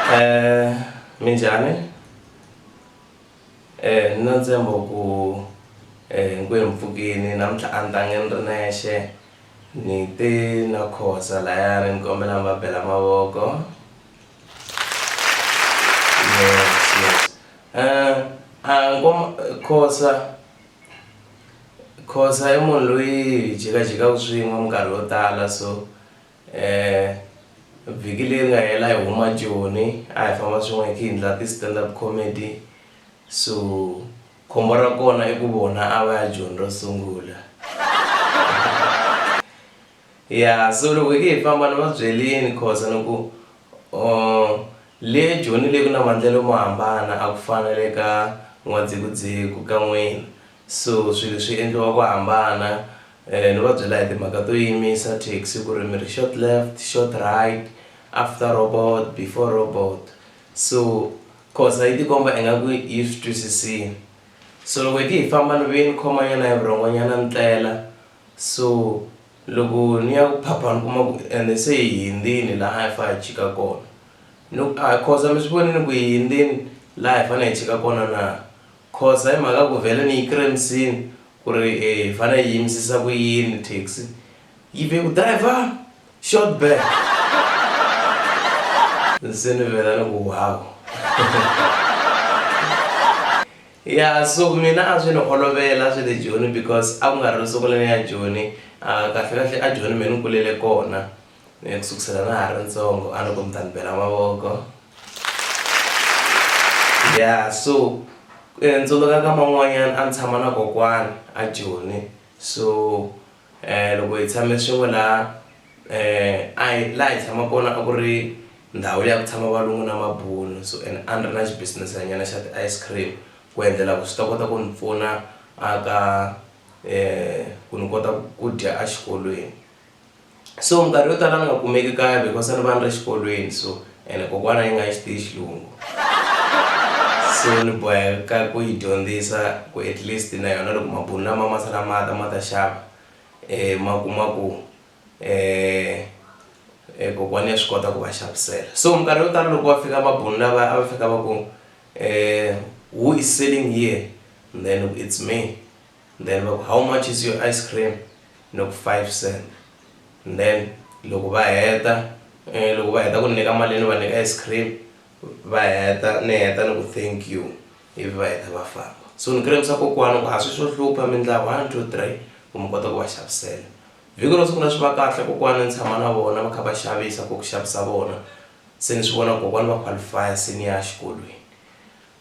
Eh, minjhani eh ni na ntshembo ku eh ku empfukini namuntlha a ni tangi ni ri nexe ni te na khosa layani ni kombela mi va bela mavoko. Yes, yes. Eh, ah, ngoma khosa khosa i munhu loyi jikajikaku swin'we minkarhi yo tala so eh vhiki leyi nga hela hi huma joni a hi famba swin'we hi khe hi endla ti-stand up comedy so khombo ra kona i ku vona a va ya joni ro sungula Ya, so loko hi ri hi famba, ni va byeleni, Khoza, ni ku, Ohh, le Joni le ku na mandlelo mo hambana, a ku fani na le ka N'wadziku-dziku, ka n'wina. So, swilo swi endliwa ku hambana. Eh, ni va byela hi timhaka to yimisa taxi, ku ri mi ri short left, short right, after robot, before robot. So, Khoza yi ti komba ingaku yi swi twisisile. So loko hi te hi famba, ni vuye ni khoma yona hi vurhongonyana, ni tlela. So loko ni ya ku phapha ni kuma ku ende se hi hindzini laha hi fa hi chika kona ni ku a khoza mi swi vonile ku hi hindzini laha hi fanele hi chika kona na khoza hi mhaka ku vhele ni yi cremisini ku ri hi fanele hi yimisisa ku yini taxi yi ve ku driver short back se ni vhela ni ku wow Ya so mina a swi ni olovela swi le Joni because a ku nga ri nsukunene ya Joni a kahle kahle a Joni me ni kulele kona ku sukusela na ha ri ntsongo a ni ku mi ta ni bela mavoko ya so ku tsundzuka ka man'wanyana a ni tshama na kokwana a Joni so Eh loko hi tshame swin'we la eh a hi la hi tshama kona a ku ri ndhawu leyi a ku tshama valungu na mabunu so and a ni ri na xibisinesana nyana xa ti-ice cream ku endlela ku swi ta kota ku ni pfuna a ka eh ku ni kota ku dya a xikolweni so minkarhi yo tala ni nga kumeki kaya because a ni va ni ri exikolweni so. ene kokwana yi nga xi tivi xilungu so ni boheka ku yi dyondzisa ku at least na yona loko mabunu lama ma sala ma ta ma ta xava um ma kuma ku um e kokwani ya swi kota ku va xavisela so minkarhi yo tala loko va fika mabunu lava a va fika va ku um who is selling here then it's me. then va ku how much is your ice cream ni ku five cent then loko va heta eh, loko va heta ku nyika mali ni va nyika ice cream va heta ni heta ni ku thank you ivi va heta va famba so ni kremisa kokwana ku a swi swo hlupha mi ndla one two three ku mi kota ku va xavisela vhiki ro sungula swi va kahle kokwana ni tshama na vona va kha va xavisa ku ku xavisa vona se ni swi vona kokwana va qualifya se ni ya exikolweni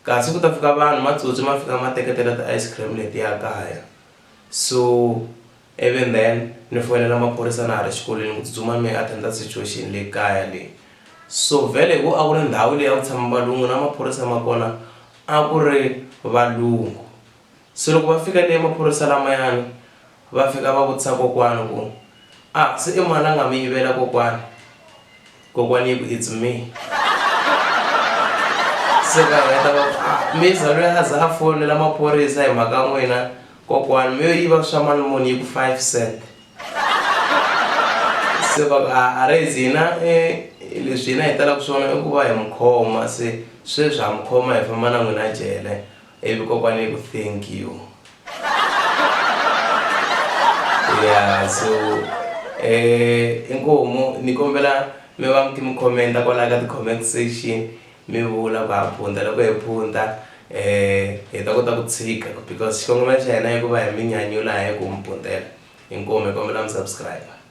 Kasi ku ta fika vanhu matsotsi ma fika ma teketela ti ice cream letiya kaya so even then ni foyinela maphorisa na ha ri xikolweni ni ku tsutsuma mi attend the situation le kaya le so vhele ku a ku ri ndhawu leyi a ku tshama valungu na maphorisa ma kona a ku ri valungu Se loko va fika le maphorisa lamayani va fika va vutisa kokwani ku, A se i mani a nga mi yivela kokwani? Kokwani yi ku, It's me. Se va heta va ku, A Miza loyi a za a fonela maphorisa hi mhaka n'wina kokwani mi yo yiva swa mali muni? Yi ku, Five cent. Se va ku, A a raise hina e leswi hina hi talaka swona i ku va hi mi khoma se sweswi ha mi khoma hi famba na n'wina jele. Hey kokwani ku thank you yeah so eh inkomo ni kombela mi va mi mi commenta kwala ka ti-comment section mi vula va phunta loko hi phunta eh hi ta kota ku tshika because xikongomelo xa hina i ku va hi mi nyanyula hi ku mi phuntela inkomo hi kombela mi subscribe